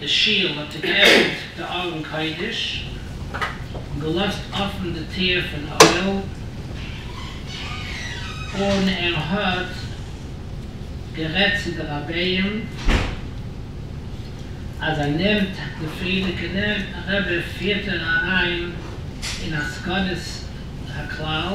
די שול האט ער געעפנט די ארון קודש און געלאזט אפן די טיר פון אוהל, און ער האט גערעדט צו די רביים אז ער נעמט די פריערדיגע רבי פירט ער אריין אין א סכנת הכלל,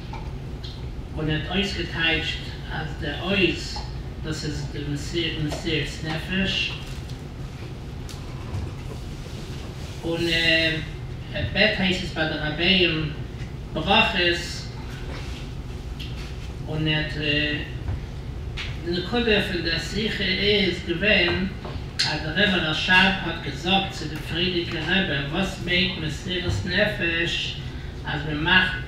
און ער האט אויסגעטייטשט אז די עוז דאס איז די מסירת נפש, און ער בעט הייסט עס ביי די רבי'ן ברכות, און ער האט די נקודה פון די שיחה איז געווען אז די רבי רשב האט געזאגט צו די פרידיגע רבי וואס מיינט מסירת נפש אז מען מאכט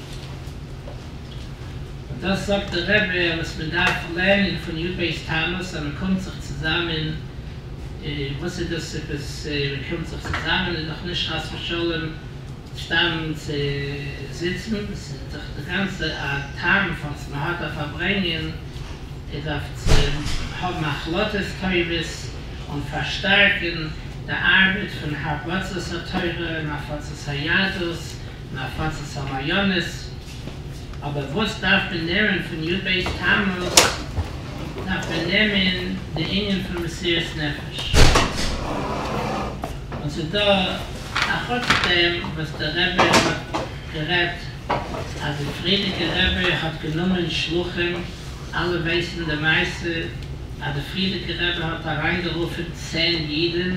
און דאס זאגט דער רבי וואס מען דארף לערנען פון יו ב'ס טענות אז מען קומט זיך צוזאמען, וואס איז דאס עפעס מען קומט זיך צוזאמען, איז דאך נישט חס ושלום סתם צו זיצן, ס'איז דאך די גאנצע א טעם פארוואס מען האט א פארברענגען, איר דארפט צו האבן החלטות טובות און פארשטארקען די ארבעט פון הרבצת התורה און הפצת היהדות, און הפצת המעיינות, אבער וואס דארף מען נער'ן פון יו ט בית תמוז, דארף מען נעמען די ענין פון מסירת נפש, און ס'איז דא א חוץ דעם וואס דער רבי האט גערעדט אז די פריערדיגע רבי האט גענומען שלוחים, אלע ווייסן די מעשה אז די פריערדיגע רבי האט אריינגערופן צען אידן,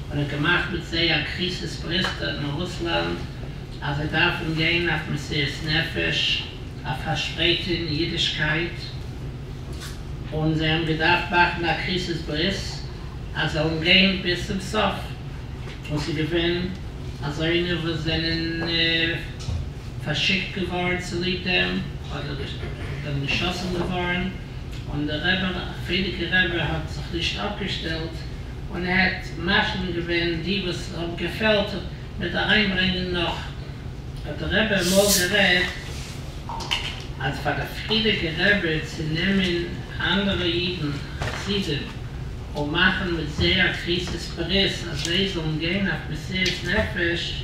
און האט געמאכט מיט זיי א קריזיס פריסטאג אין רוסלאנד אז זיי דארפן גיין אויף מסירות נפש אויף פארשפרייטונג אידישקייט, און זיי האבן געדארפט מאכן א קריזיס ברית אז זיי וועלן גיין ביז צום סוף, און ס'איז געווען אזוינע וואס זענען פארשיקט געווארן צוליב דעם, אדער זיי זענען געשאסן געווארן. און דער רבי, א פרידיגע רבי, האט זיך נישט אפגעשטעלט און האט מפנים געווען די וואס האבן געפעלט מיט אריינברענגען נאך, האט דער רבי אמאל גערעדט אז פאר דער פרידיגע רבי צו נעמען אנדערע אידן חסידים און מאכן מיט זיי א קריסת פרס אז זיי זאלן גיין אויף מסירת נפש,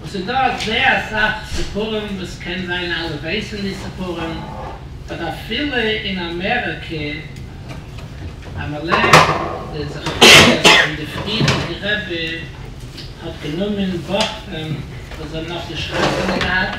און ס'איז דא אזוי אסאך סיפורים וואס קען זיין אלע ווייסן די סיפורים באט אפילו אין אמעריקע אמאל די זכריות פון די פריערדיגע רבי האט גענומען בחורים וואס זיי האבן נאך נישט חתונה געהאט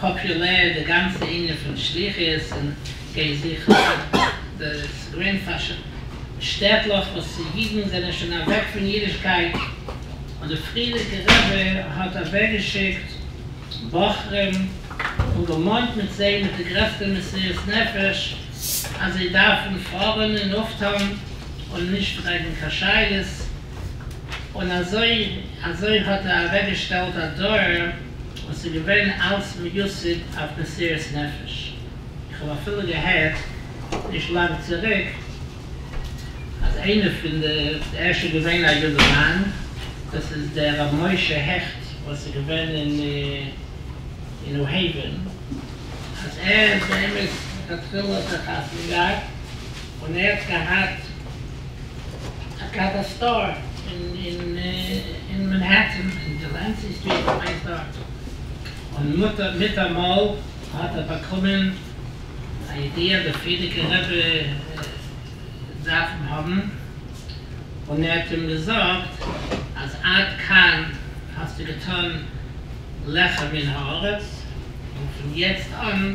פאפולער די גאנצע ענין פון שליחות און גיי זיך אויף די סגרים פאר שטעטלעך וואס אידן זענען שוין אוועק פון אידישקייט און די פריערדיגע רבי האט אוועקגעשיקט בחורים און געמאנט מיט זיי מיט די גרעסטע מסירות נפש אז זיי דארפן פארן און אויפטון און נישט פרעגן קיין שאלות און אזוי אזוי האט ער אוועקגעשטעלט א דור וואס איז געווען אלץ מיוסד אויף מסירת נפש, איך האב אפילו געהערט נישט לאנג צוריק אז איינער פון די, ער איז שוין געווען א יונגערמאן, דאס איז דער רבי משה העכט וואס איז געווען אין ניו העווען, אז ער באמת לכתחילה האט ער חתונה געהאט און ער האט געהאט א קאווע סטאר אין מענהעטען אין דילענסי סטריט כ'מיין ס'דארט, און מיטאמאל האט ער באקומען א ידיעה אז די פרידיקער רבי דארף אים האבן, און ער האט אים געזאגט אז עד כאן האסטו געטון לך מן הארץ, און פון יעצט אן.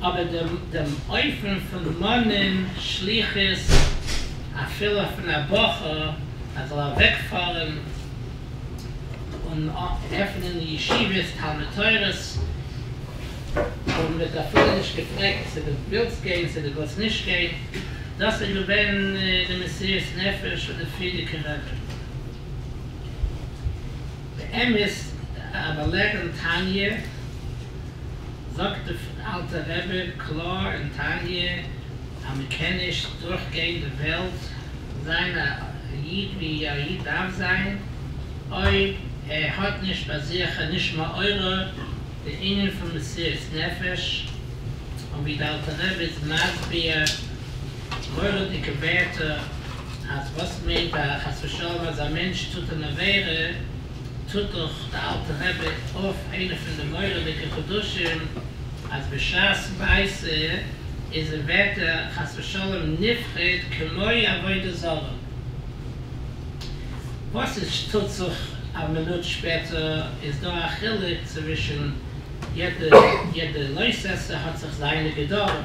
אבער דעם אופן פון מאנען שליחות אפילו פון א בחור אז זאל אוועקפארען און עפענען ישיבות תלמוד תורה'ס און מ'האט אפילו נישט געפרעגט צו דו ווילסט גיין צו דו ווילסט נישט גיין, דאס איז געווען די מסירות נפש פון די פריערדיגע רעבען. באמת א באלערענד תניא, זאגט די אלטע רבי קלאר אין תניא אז מען קען נישט דורך גיין די וועלט און זיין א איד ווי א איד דארף זיין אויב ער האט נישט ביי זיך און נישט מעורר די ענין פון מסירות נפש און ווי די אלטע רבי איז מסביר האט מורא'דיגע ווערטער, אז וואס מיינט א חס ושלום אז א מענטש טוט אן עבירה, טוט דאך די אלטע רבי אויף איינע פון די מורא'דיגע חידושים אז בשעת מעשה איז ער ווערט ער חס ושלום נפרד כמו עבודה זרה, וואס איז שטוט זיך א מינוט שפעטער איז דא א חילוק צווישן יעדע יעדע לויסעסער האט זיך זיינע גדרים.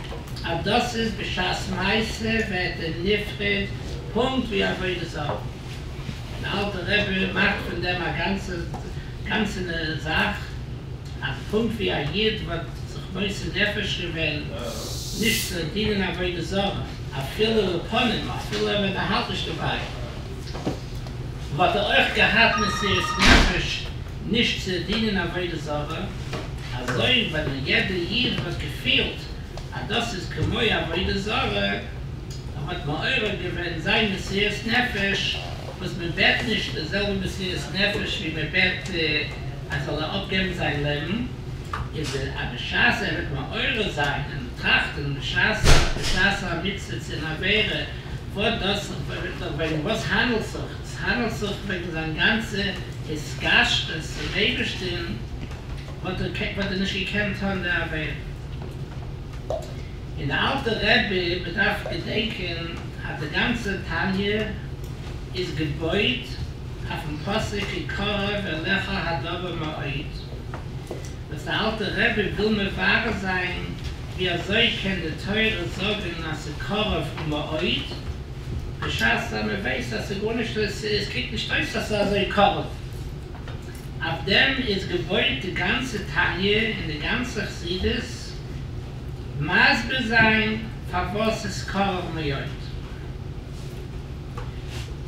אז דאס איז בשעת מעשה ווערט ער נפרד פונקט ווי עבודה זרה, און די אלטע רבי מאכט פון דעם א גאנצענע זאך, אז פונקט ווי א יוד וואלט זיך מוסר נפש געווען נישט צו דינען עבודה זרה אפילו לפנים, אפילו ווען ער האלט נישט דערביי, וואלט ער אויך געהאט מסירות נפש נישט צו דינען עבודה זרה, אזוי ווען א יעדע איד האט געפילט אז דאס איז כמו עבודה זרה, און האט מעורר געווען זיין מסירות נפש, וואס מען בעט נישט די זעלבע מסירות נפש ווי מען בעט אז זאל ער אפגעבן זיין לעבן, איז ער אז בשעת ער וועט מעורר זיין און טראכטען בשעת בשעת המצוה צו אין עבירה וואס דאס וועגן וואס האנדלט זיך ס'האנדלט זיך וועגן זיין גאנצע התקשרות צום אייבערשטען, האט ער וואלט ער נישט געקענט טון די עבירה. און די אלטע רבי, מ'דארף געדענקען אז די גאנצע תניא איז געבויט אויפן פסוק כי קרוב אליך הדבר מאוד, וואס די אלטע רבי וויל מברר זיין ווי אזוי קען די תורה זאגן אז ס'קרוב מאוד, בשעת אז מען ווייסט אז ס'איז גארנישט, עס קוקט נישט אויס אז ס'איז אזוי קרוב. אויף דעם איז געבויט די גאנצע תניא און די גאנצע חסידות, מסביר זיין פארוואס ס'איז קרוב מאוד.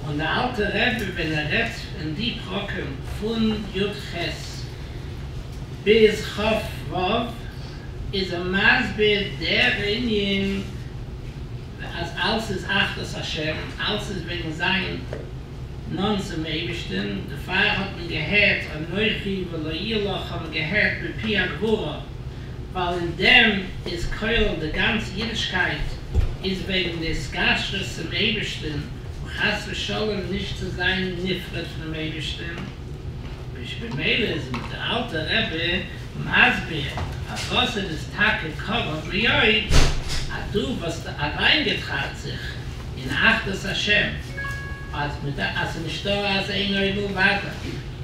און דער אלטער רבי ווען ער רעדט אין די פרקים פון י ח ביז ח ו איז ער מסביר דער ענין, אז אלס איז אחדות השם, אלס איז וועגן זיין נאנט צום אייבערשטען, דערפאר האט מען געהערט אנכי ולא יהיה לך האט מען געהערט מפי הגבורה, ווייל אין דעם איז כולל די גאנצע אידישקייט איז וועגן די התקשרות צום אייבערשטען און חס ושלום נישט צו זיין נפרד פונעם אייבערשטען, וויש במילא איז מיט די אלטע רבי. מסביר פאר וואס ער איז טאקע קרוב מאוד, אז דו וואלסט אריינגעטראכט זיך אין אחדות השם, אז מען דארף, אז ס'נישט דא אז אין עוד מלבדו,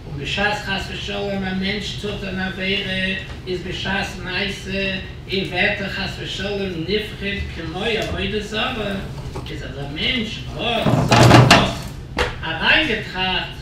און בשעת חס ושלום א מענטש טוט אן עבירה, איז בשעת מעשה אין ווערט ער חס ושלום נפחד כמו עבודה זרה, איז אז א מענטש וואלט זיך דאס אריינגעטראכט,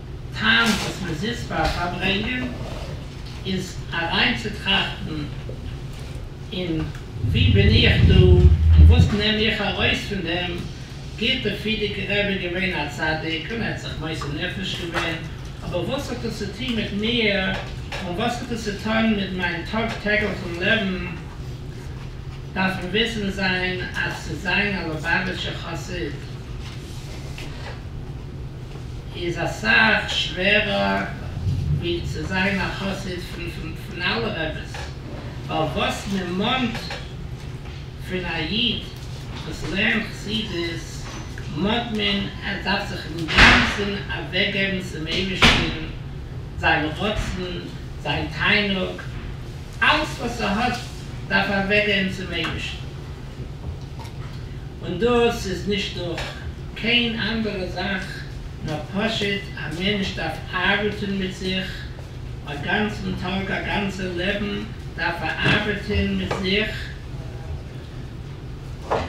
טעם וואס מען זיצט פאר פארברענגען איז אריינצוטראכטן אין ווי בין איך דא און וואס נעם איך ארויס פון דעם, גוט אפי' די גרעבער געווען א צדיק און ער האט זיך מוסר נפש געווען, אבער וואס האט דאס צו טון מיט מיר און וואס האט דאס צו טון מיט מיין טאג טעגליכן לעבן, דארף מען וויסן זיין אז צו זיין א לובאוויטשער חסיד. איז אסאך שווערער ווי צו זיין א חסיד פון אלע רעבעס, ווייל וואס מען מאנט פון א איד וואס לערנט חסידות מאנט מען ער דארף זיך אינגאנצען אוועקגעבן צום אייבערשטען, זיין רצון, זיין תענוג, אלס וואס ער האט דארף ער אוועקגעבן צום אייבערשטען, און דאס איז נישט דורך קיין אנדערע זאך נאר פשוט א מענטש דארף ארבעטען מיט זיך א גאנצען טאג א גאנצע לעבען דארף ער ארבעטען מיט זיך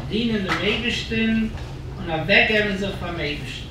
דינען דעם אייבישטען און אוועק געבען זיך פארן אייבישטען.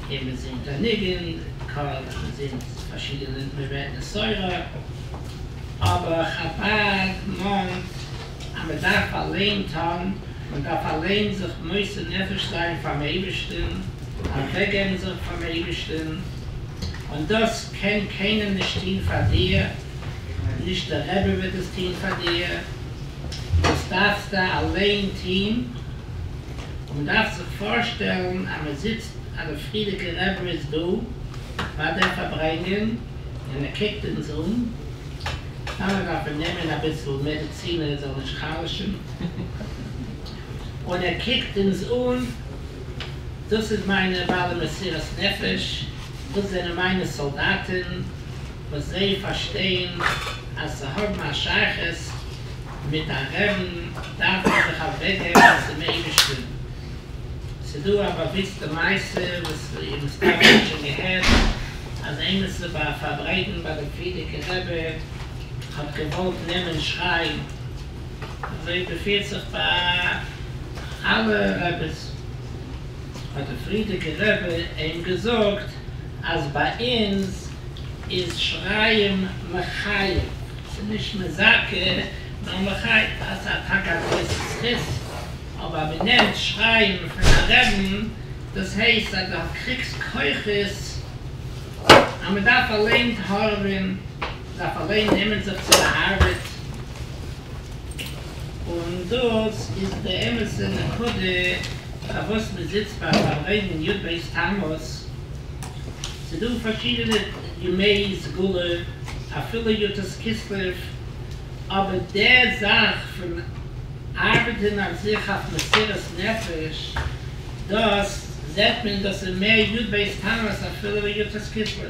און מען זינגט א ניגון, קאר, מען זינגט פארשידענע, מען רעדט מסורה, אבער חבד מאנט אז מען דארף אליין טון, מען דארף אליין זיך מוסר נפש זיין פארן אייבערשטן, אוועקגעבן זיך פארן אייבערשטן, און דאס קען קיינער נישט טון פאר דיר, נישט דער רבי וועט עס טון פאר דיר. דאס דארפסטע אליין טוהן, מען דארף זיך פארשטעלן אז מען זיצט אז די פריעדיגע רבי איז דא פאר דעם פארברענגען און ער קוקט אונז אן, טאמער דארף מען נעמען אביסל מעדעצין ער זאל נישט חלש'ן און ער קוקט אונז אן, דאס איז מיינע בעלי מסירת נפש, דאס זענען מיינע סאלדאטען. וואס זיי פארשטייען אז צו האבן א שייכות מיט א רעבן דארף מען זיך אוועקגעבן צום אייבערשטען, ס'דא א באוויסטע מעשה וואס איר מסתבר האט שוין געהערט, אז עימיצער ביי א פארברייטן ביי די פרידיגע רבי האט געוואלט נעמען שרייען, אזוי ווי פירט זיך ביי אלע רביס, האט די פרידיגע רבי עהם געזאגט, אז ביי אונז איז שריים מחייב, ס'איז נישט מזכה נאר מחייב, אז א טאקע א זכות איז זכות, אבער מען נעמט שריים פון א רעבן, דאס הייסט אז דו קריגסט כוחות, אז מען דארף אליין הארעווען, מען דארף אליין נעמען זיך צו די ארבעט, און דאס איז די אמת'ע נקודה. פארוואס מען זיצט ביי פארברענגן יו ט בית תמוז, ס'דא פארשידענע ימי סגולה אפילו יו ט כסלו, אבער די זאך פון ארבעטען אויף זיך אויף מסירות נפש דאס זעט מען דאס איז מער יו ט בית תמוז אפילו ווי יו ט כסלו.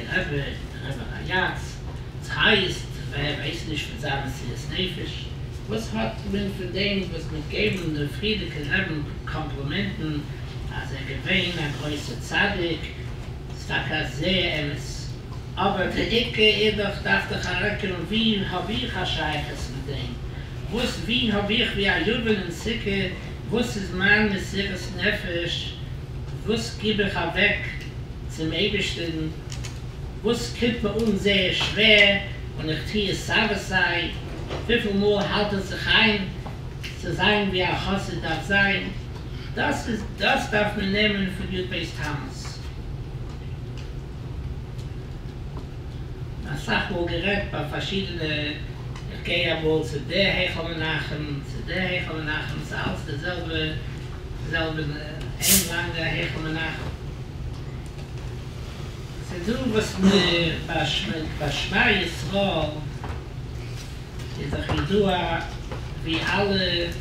רעבע און רעבע רייאץ, ס'הייסט ווער ווייסט נישט מיט זיין מסירת נפש? וואס האט מען פון דעם וואס מיט געבן דעם פרידיקער רעבן קאמפלימענטן אז ער געווען א גרויסע צדיק, ס'טאקע א זע אמת, אבער די עיקר איז דאך דארף דיך ארעקענען ווי האב איך א שייכות מיט דעם, וואס ווי האב איך ווי א יוון אין סוכה וואס איז מיין מסירת נפש, וואס גיב איך אוועק צום אייבישטערן, וואס קומט מיר אן זייער שווער און איך טו עס סיי ווי סיי, וויפיל מאל האלט איך זיך איין צו זיין ווי א חסיד דארף זיין, דאס איז דאס דארף מען נעמען פון יו ט בית תמוז. אסאך מאל גערעדט ביי פארשידענע, איך גיי אמאל צו די היכל מנחם, צו די היכל מנחם, ס'איז אלץ די זעלבע. זעלבע אין לאנדא היכל מנחם. ס'דא וואס מ'פארשמעקט ביי שמע ישראל איז דאך ידוע ווי אלע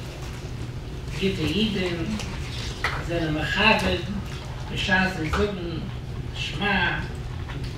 גוטע אידן זענען מכבד בשעת זיי זאגן שמע.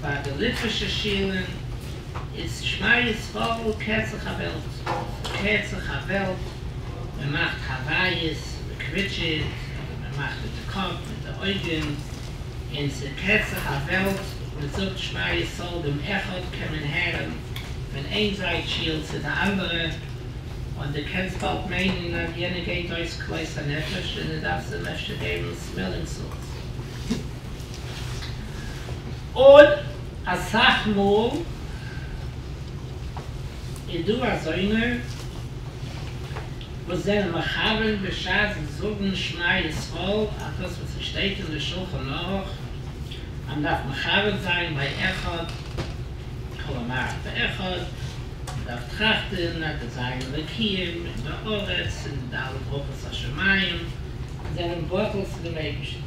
ביי די ליטווישע שילן איז שמע ישראל קערט זיך א וועלט, מ'קערט זיך א וועלט, מ'מאכט הוויות, מ'קוויטשעט אדער מ'מאכט מיט די קאפ, מיט די אויגן, און ס'קערט זיך א וועלט, מ'זאגט שמע ישראל, דעם אחד קען מען הערן פון איין זייט שיל צו די אנדערע, און דו קענסט באלד מיינען אז יענער גייט אויס כלות הנפש און דו דארפסט אים אפשר געבן סמעלינג סאלטס. און אסאך מאל איז דא אזוינע וואס זענען מכוון בשעת זיי זאגן שמע ישראל אויף דאס וואס עס שטייט אין די שלחן ערוך אז מ'דארף מכוון זיין ביי אחד כל המערכת האחד, מ'דארף טראכטן אז די זיין אלוקים און די ארץ און די אלע ברכות השמים זענען בטל צו דעם אייבערשטן.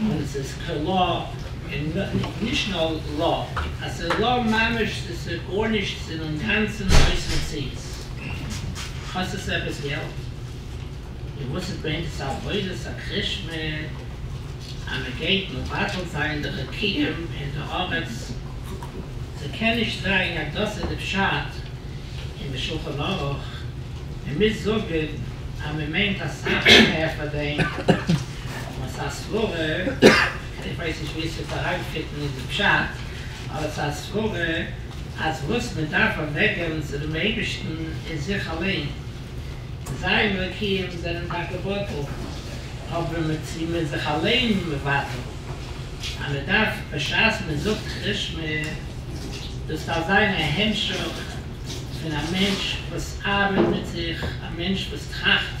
און עס איז כ ל, און נישט נאר ל ע, אז ס'איז ל ע ממש, ס'איז ס'איז גארנישט, ס'איז אינגאנצן אויס מציאות. קאסט עס עפעס געלט? און וואס איז באמת עבודת הקרישמע? אז מען גייט מבטל זיין די חוקים אין די ארץ? ס'קען נישט זיין אז דאס איז די פשט אין די שולחן ערוך, מען מוז זאגן אז מען מיינט אסאך מער פאר דעם. אבער ס'איז א סברא, איך ווייס נישט ווי עס וועט אריינפיטן אין די פשט, אבער ס'איז א סברא אז וואס מען דארף אוועקגעבן צו דעם אייבערשטן איז זיך אליין. זיין אלוקים זענען טאקע בטל, אבער מען צו מען זיך אליין מבטל, אז מען דארף בשעת מען זאגט כריש מ, דאס דארף זיין א המשך פון א מענטש וואס ארבעט מיט זיך, א מענטש וואס טראכט,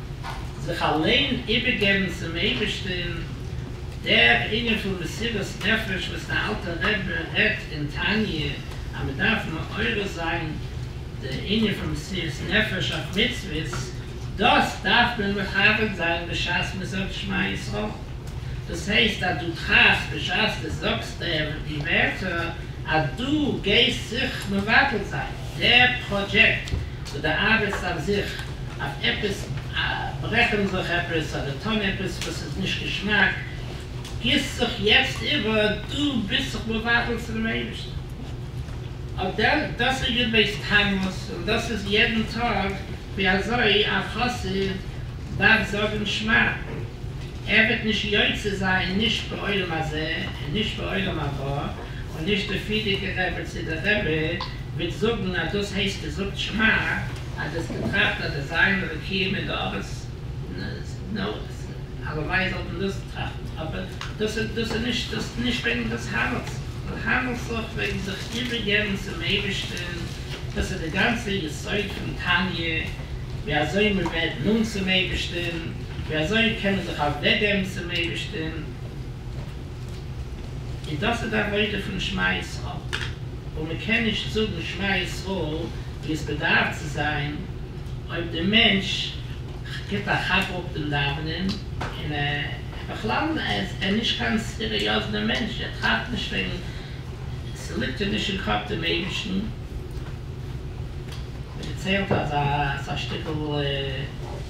זיך אליין איבערגעבן צום אייבערשטען, דער ענין פון מסירות נפש וואס דער אלטער רבי רעדט אין תניא אז מען דארף מעורר זיין די ענין פון מסירות נפש אויף מצוות, דאס דארף מען מכבד זיין בשעת מען זאגט שמע ישראל, דאס הייסט אז דו טראכסט בשעת דו זאגסט דעם די ווערטער אז דו גייסט זיך מבטל זיין דער פראדזשעקט וואס דו ארבעטסט אויף זיך, אויף עפעס ברעכן זיך עפעס אדער טון עפעס וואס איז נישט געשמאק, גיסט זיך יעצט איבער, דו ביסט זיך מבטל צו דעם אייבערשטן, אדער דאס איז יו ט בעיס ט תמוז און דאס איז יעדן טאג ווי אזוי א חסיד דארף זאגן שמע, ער וועט נישט יוצא זיין נישט בעולם הזה און נישט בעולם הבא. און נישט די פידיגע רבי צו די רבי וועט זאגן אז דאס הייסט געזאגט שמע אז דאס געטראכט אז די זיין אלוקים אין די ארץ נו הלוואי זאלט מען דאס טראכטן אבער דאס איז דאס איז נישט דאס איז נישט וועגן דאס האנעלטס און האנעלט זיך וועגן זיך איבערגעבן צום אייבערשטען דאס איז די גאנצע יסוד פון תניא ווי אזוי מען ווערט נאנט צום אייבערשטען ווי אזוי קען מען זיך אוועקגעבן צום אייבערשטען. און דאס איז די עבודה פון שמע ישראל, און מען קען נישט זאגן שמע ישראל ווי עס באדארף צו זיין אויב די מענטש גיבט א כאפ אפ דעם דאווענען, און ער איז בכלל נישט קיין סיריעזנע מענטש, ער טראכט נישט וועגן, ס'ליגט אים נישט אין קאפ דעם אייבערשטן. מען דערציילט אזא שטיקל.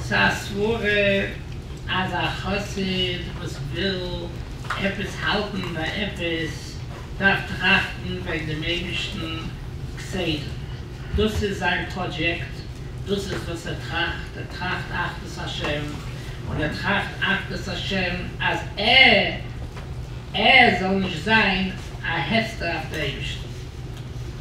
ס'א סברה אז א חסיד וואס וויל עפעס האלטן ביי עפעס דארף טראכטן וועגן דעם אייבישטן כסדר, דאס איז זיין פראדזשעקט, דאס איז וואס ער טראכט, ער טראכט אחדות השם, און ער טראכט אחדות השם אז ער זאל נישט זיין א העצטער אויף די אייבישטן.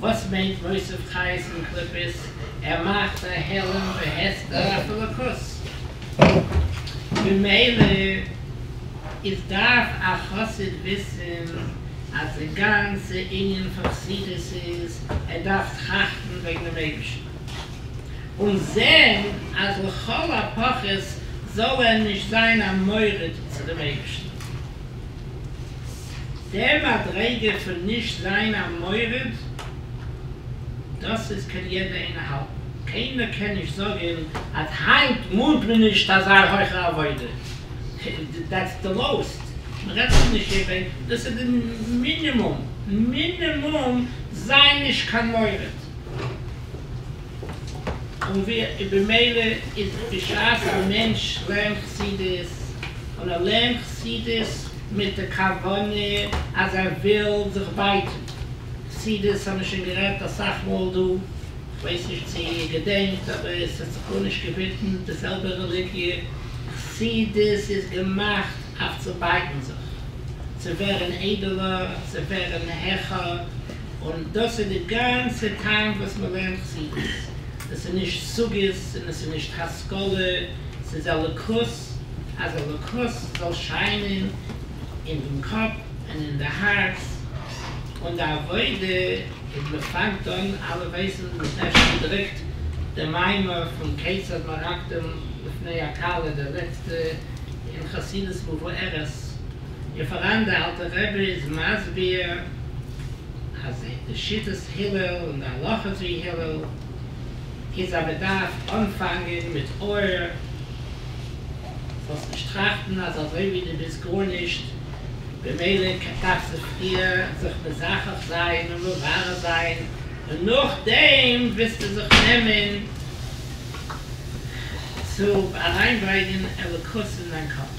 וואס מיינט מוסיף חיות און קליפות? ער מאכט א העלם והסתר אויף אלוקות. ממילא איז דארף א חסיד וויסן אז די גאנצע ענין פון חסידות איז ער דארף טראכטן וועגן דעם אייבערשטן און זען אז לכל הפחות זאל ער נישט זיין א מורד צו דעם אייבערשטן. די מדריגה פון נישט זיין א מורד, דאס איז קען יעדער איינער האלטן, קיינער קען נישט זאגן אז היינט מאנט מען נישט אזא הויכע עבודה, דעטס די לאוסט, מען רעדט שוין נישט איבער, דאס איז די מינימום, מינימום זיי נישט קיין מורד. און ווי במילא איז בשעת א מענטש לערנט חסידות און ער לערנט חסידות מיט די כוונה אז ער וויל זיך בייטון, חסידות האמיר שוין גערעדט אסאך מאל דא, כ'ווייס נישט צו איר געדענקט אבער עס האט זיך גארנישט געווידמעט די זעלבע רעליגיע, חסידות איז געמאכט אויף צו בייטן זיך, צו ווערן איידעלער, צו ווערן העכער, און דאס איז די גאנצע טעם וואס מען לערנט ציוץ, דאס איז נישט סוגיות און עס איז נישט השכלה, ס'איז אלוקות, אז אלוקות זאל שיינען אין דעם קאפ און אין די הארץ, און די עבודה איז מען פאנגט אן, אלע ווייסן מען האט נעכטן געדרוקט די מימר פון כיצד מרקדין לפני הכלה, די לעצטע אין חסידות מבוארת, און פאראן די אלטע רבי איז מסביר אז די שיטת הלל און די הלכות ווי הלל איז אז מען דארף אנפאנגען מיט אור זאלסט נישט טראכטן אז אזוי ווי די ביסט גארנישט במילא דארפסטו פריער זיך מזכך זיין און מברר זיין און נאכדעם וועסטו זיך נעמען צו אריינברענגען אלוקות אין דיין קאפ.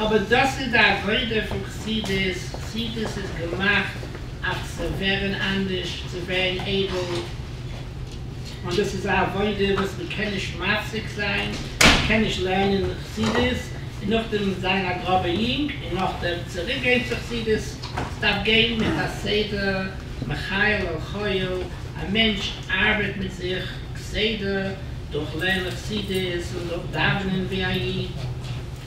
אבער דאס איז די עבודה פון חסידות, חסידות איז געמאכט אויף צו ווערן אנדערש, צו ווערן איידל, און דאס איז א עבודה וואס מען קען נישט מפסיק זיין, מען קען נישט לערנען חסידות און נאכדעם זיין א גראבער יונג און נאכדעם צוריק גיין צו חסידות, ס'דארף גיין מיט א סדר, מחיל אל חיל, א מענטש ארבעט מיט זיך כסדר דורך לערנען חסידות און דורך דאווענען ווי א איד.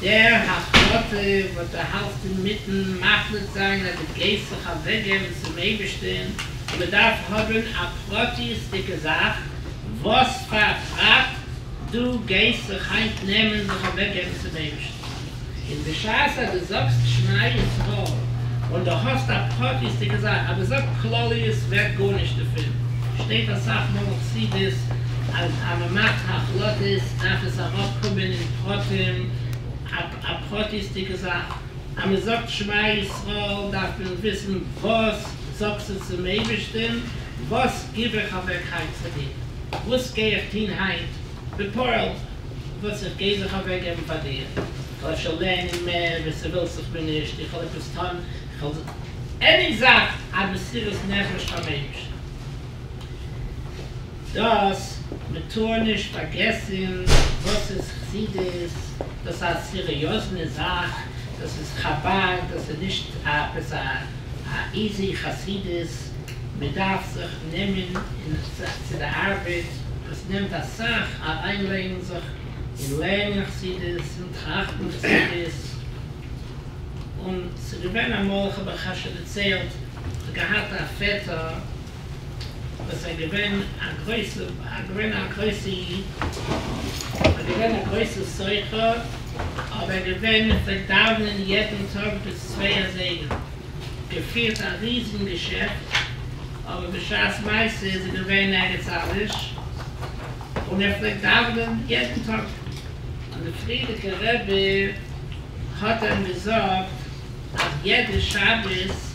דער החלטה וואס דו האלטסט אינמיטן מחליט זיין אז דו גייסט זיך אוועקגעבן צום אייבערשטען, מען דארף האבן א פרטיות'דיגע זאך, וואס פאר טראט דו גייסט זיך היינט נעמען זיך אוועקגעבן צום אייבערשטן, און בשעת אז דו זאגסט שמע ישראל און דו האסט א פרטיות'דיגע זאך, אבער זאג כלליות ווערט גארנישט דערפון, שטייט אסאך מאל אין חסידות אז אז מען מאכט החלטות דארף עס אראפקומען אין. האט אים א פרטיות'דיגע זאך, אז מען זאגט שמע ישראל דארף מען וויסן וואס זאגסטו צום אייבערשטען, וואס גיב איך אוועק היינט פאר דיר, וואס גיי איך טון היינט בפועל וואס איך גיי זיך אוועק געבן פאר דיר, איך וועל אפשר לערנען מער ווי ס'ווילט זיך מיר נישט, איך וועל עפעס טון, איך וועל עני זאך, א מסירות נפש פארן אייבערשטן. דאס מען טאר נישט פארגעסען וואס איז חסידות, דאס א סיריאזנע זאך, דאס איז חבד, דאס איז נישט עפעס א איזי חסידות, מען דארף זיך נעמען אין צו די ארבעט, עס נעמט אסאך אריינלייגן זיך אין לערנען חסידות אין טראכטן חסידות, און ס'געווען אמאל איך האב אייך א ש דערציילט, כ'האב געהאט א פעטער, וואס איז געווען א גרויסע א געווען א גרויסע איד און געווען א גרויסע סוחר אבער געווען פלעגט דאווענען יעדן טאג ביז צוויי אזייגער געפירט א ריזן געשעפט אבער בשעת מעשה איז ער געווען ערגעץ אנדערש און ער פלעגט דאווענען יעדן טאג און די פריערדיגע רבי האט אים געזאגט אז יעדע שבת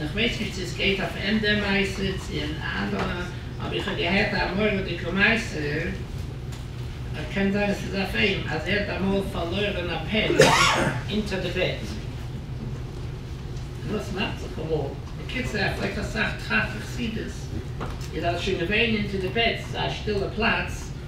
איך ווייס נישט צו עס גייט אויף עם דער מעשה צו אין אלע, אבער איך האב געהערט א מורא'דיגע מעשה, ער קען זיין עס איז אויף עם, אז ער האט אמאל פארלוירען א פען אונטער די בעט, דאס מאכט זיך אמאל, בקיצור ער פלעגט אסאך טראכטן חסידות, איז אז שוין געווען אונטער די בעט ס'איז א שטילע פלאץ,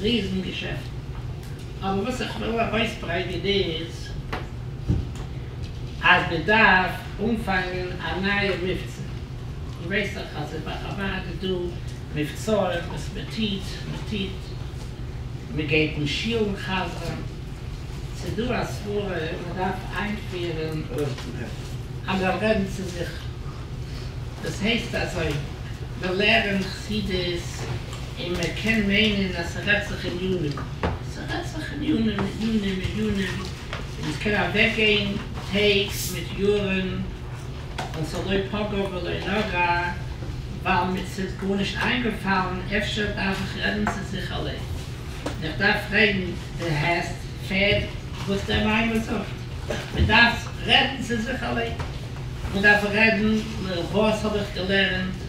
ריזן געשעפטן. אבער וואס איך וויל ארויסברענגען איז אז מען דארף אנפאנגען א נייע מבצע. איר ווייסט דאך אז אין בארה ב איז דא מבצעים וואס מען טוט, מען טוט, מען גייט אין שולן חזר'ן, ס'איז דא א סברה אז מען דארף איינפירען אז מען רעדן צו זיך, דאס הייסט אזוי, מען לערענט חסידות, און מען קען מיינען אז ס'רעדט זיך אין יונים, ס'רעדט זיך אין יונים און יונים און יונים, און עס קען אוועקגיין טעג מיט יארן, ווייל ס'לא פגע ולא נגע, ווייל מיר ס'איז גארנישט איינגעפאלן, אפשר דארף איך רעדן צו זיך אליין, און איך דארף פרעגן די העסט פעד וואס דער מימרא זאגט, מען דארף רעדן צו זיך אליין, מען דארף רעדן, וואס האב איך געלערנט?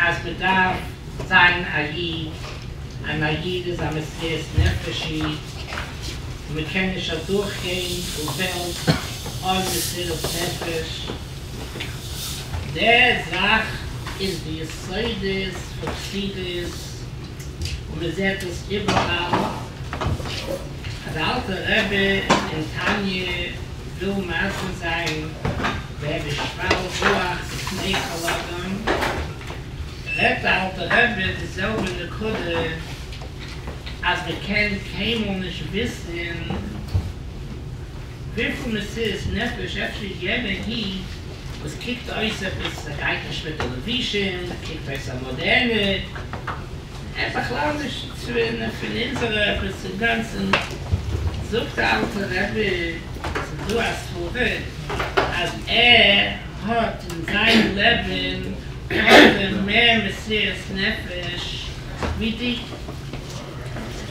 אז מען דארף זיין א איד, אן א איד איז א מסירת נפש איד, און מען קען נישט אדורך גיין דו וועלט אן מסירת נפש, די זאך איז די יסודות פון חסידות, און מען זעט עס איבעראל, אז אלטע רבי אין תניא. דא מאזן זיי ווער די שוועל רוח בפני כל אדם, רעדט די אלטע רבי די זעלבע נקודה אז מען קען קיינמאל נישט וויסען וויפיל מסירות נפש אפשר יענע היט וואס קוקט אויס עפעס ס'גייט נישט מיט די לבושים קוקט אויס א מאדערנע, און בכלל נישט צוטרינען פון אונזערע עפעס אינגאנצען, זאגט אלטע רבי אז איז דא א סברא אז ער האט אין זיין לעבען געהאבען מער מסירת נפש ווי די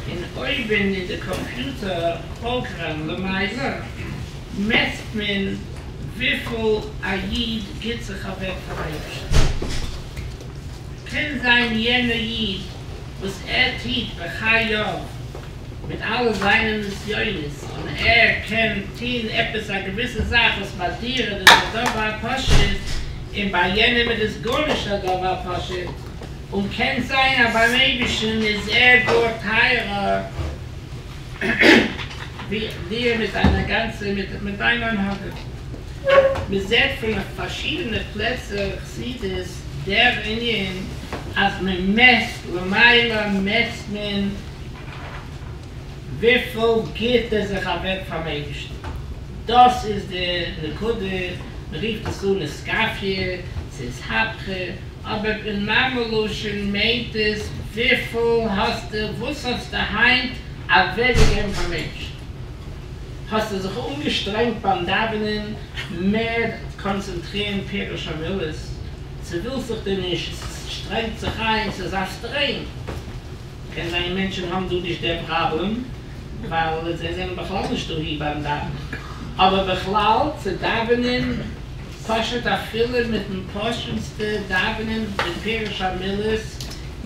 און אויבען אין די קאמפיוטער פראגראם למעשה מעסט מען וויפיל א איד גיט זיך אוועק פארן אייבערשטען. קען זיין יענער איד וואס ער טוט בחייו מיט אלע זיינע נסיונות און ער קען טון עפעס א געוויסע זאך וואס ביי דיר איז עס א דבר פשוט און ביי יענעם איז עס גארנישט א דבר פשוט און קען זיין אז ביים אייבערשטן איז ער גאר טייערער דיר מיט דיינער גאנצער מיט דיין הנהגה. מען זעט פון פארשידענע פלעצער חסידות דער ענין אז מען מעסט למעלה מעסט מען וויפיל גיבט ער זיך אוועק פארן אייבערשטן, דאס איז די נקודה, מען רופט עס אן עסקאפיע, ס'איז הפכה. אבער אין מאמע לשון מיינט עס וויפיל האסטו וואס האסטו היינט אוועקגעגעבן פאר מענטשן? האסטו זיך אנגעשטרענגט ביים דאווענען מער קאנצענטרירן פירוש המילות? צו ווילסט זיך דו נישט? עס שטרענגט זיך איין, עס איז א סטרעין. קען זיין מענטשן האבן דא נישט דער פראבלעם ווייל זיי זענען בכלל נישט דאהי ביים דאווענען, אבער בכלל צו דאווענען. פשוט אפילו מיטן פשוט'סטע דאווענען מיט פירוש המילות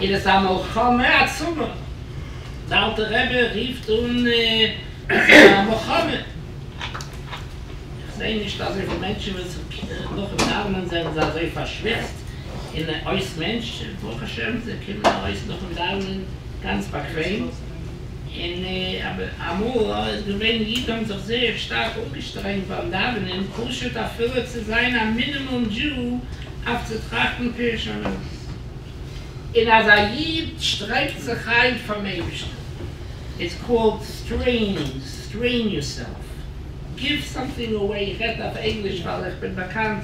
איז עס א מלחמה עצומה, די אלטע רבי רופט אן אז עס איז א מלחמה, איך זעה נישט אזויפיל מענטשן וואס נאכן דאווענען זענען זיי אזוי פארשוויצט און אויס מענטש, ברוך השם זיי קומען ארויס נאכן דאווענען גאנץ באקוועם. און אמאל איז געווען אידן האבן זיך זייער שטארק אנגעשטרענגט ביים דאווענען פשוט אפילו צו זיין א מינימום דזשאו אויף צו טראכטן פירוש המידות. און אז א איד שטרענגט זיך איין פארן אייבערשטן, איטס קאלד סטרעינינג, סטרעין יורסעלף, גיוו סאמטינג אוועי, איך רעדט אויף ענגליש ווייל איך בין באקאנט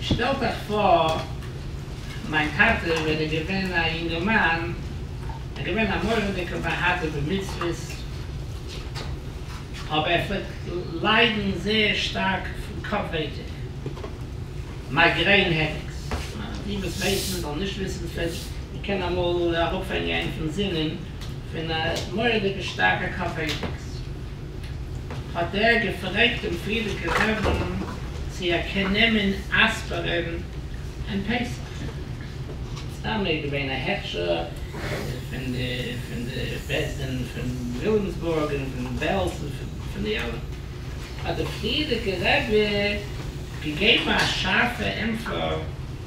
שטעלט אייך פאר, מיין טאטע ווען ער געווען א יונגערמאן, ער געווען א מורא'דיגע באהאדער במצוות, אבער ער פלעגט ליידן זייער שטארק פון קאפ ווייטאג, מייגרעין העדעיקס, די וואס ווייסן זאלן נישט וויסן, פלעגט מען קענען אמאל אראפהענגען אים פון זינען פון א מורא'דיגע שטארקע קאפ ווייטאגס. האט ער געפרעגט דעם פריערדיגע רבין צו ער קען נעמען אספרין אין פסח. סתם איז געווען א הכשר פון די פון די בית דין פון וויליאמסבורג און פון בעלז און פון די אלע. האט דער פריערדיגע רבי געגעבן א שארפע אינפא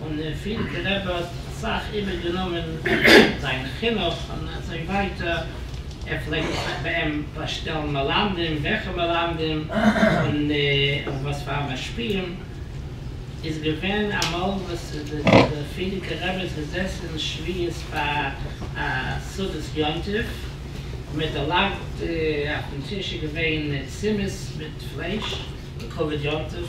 און אין פיל געלעבערט סאך איבער גענומען זיין חינוך און אזוי ווייטער, ער פלעגט זיך ביי אים באשטעלן מלמדים, וועכע מלמדים און וואס פאר משפיעים, איז געווען אמאל וואס די פרידיגע רבי איז געזעסען שביעית ביי א סעודת יום טוב, און מען האט דערלאנגט אויפן טיש איז געווען צימעס מיט פלייש לכבוד יום טוב,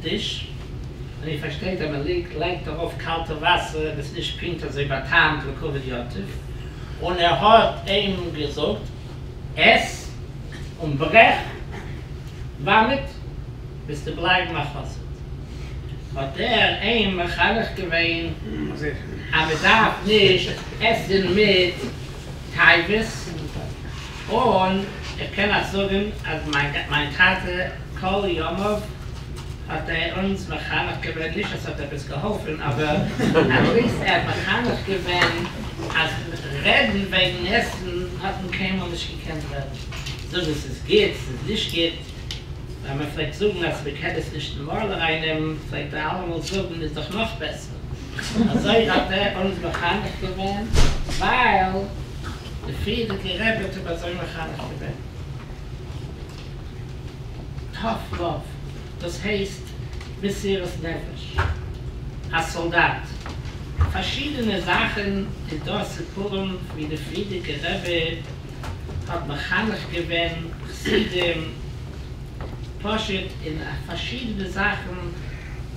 דיש, און איר פארשטייט אז מען ליגט לייגט ארויף קאלטע וואסער און עס נישט פונקט אזוי באטעמט ווי כבוד יתיב, און ער האט אים געזאגט, עס און ברעך באמעט וועסטו בלייבן א חסיד, האט ער אים מחנך געווען אז מען דארף נישט עסן מיט. טייבעס, און איך קען נאך זאגן אז מיין טאטע כל ימיו האט ער אונז מחנך געווען, נישט אז ס'האט עפעס געהאלפן אבער עטליסט ער האט מחנך געווען אז רעדן וועגן עסן האט מען קיינמאל נישט געקענט רעדן, זאגן ס'איז גוט ס'איז נישט גוט, ווען מ'פלעגט זאגן אז מ'קען עס נישט נארמאל ארייננעמען פלעגט ער אלעמאל זאגן איז דאך נאך בעסער. אזוי האט ער אונז מחנך געווען, ווייל די פריערדיגע רבי האט אים אזוי מחנך געווען. טאף לאוו, דאס הייסט מסירות נפש. א סאלדאט. פארשידענע זאכן איז דא סיפורים ווי די פריערדיגע רבי האט מחנך געווען חסידים, פשוט אין פארשידענע זאכן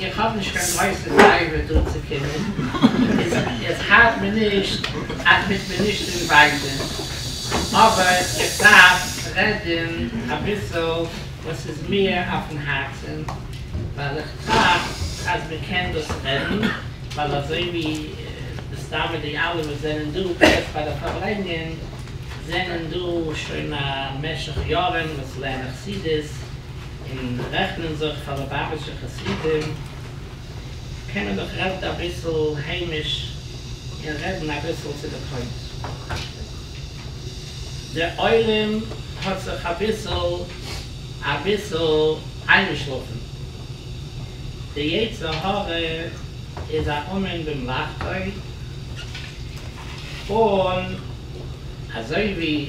איך האב נישט קיין גרויסע סייווי דא צו קומען, עס האלט מיר נישט אז מיט מיר נישט צו ריווייזען, אבער איך דארף רעדען אביסעל וואס איז מיר אויפן הארצען, ווייל איך טראכט אז מען קען דאס רעדען, ווייל אזוי ווי מסתמא די אלע וואס זענען דא בעת ביי די פארלענגען זענען דא שוין א משך יארען וואס לערנען חסידות, און רעכנען זיך פאר לובאוויטשע חסידים, קען מען דאך רעדן אביסל היימיש און רעדן אביסל צו די פוינט. די עולם האט זיך אביסל אביסל איינגעשלאפן. די יצר הרע איז א אומן במלאכתו, און אזוי ווי.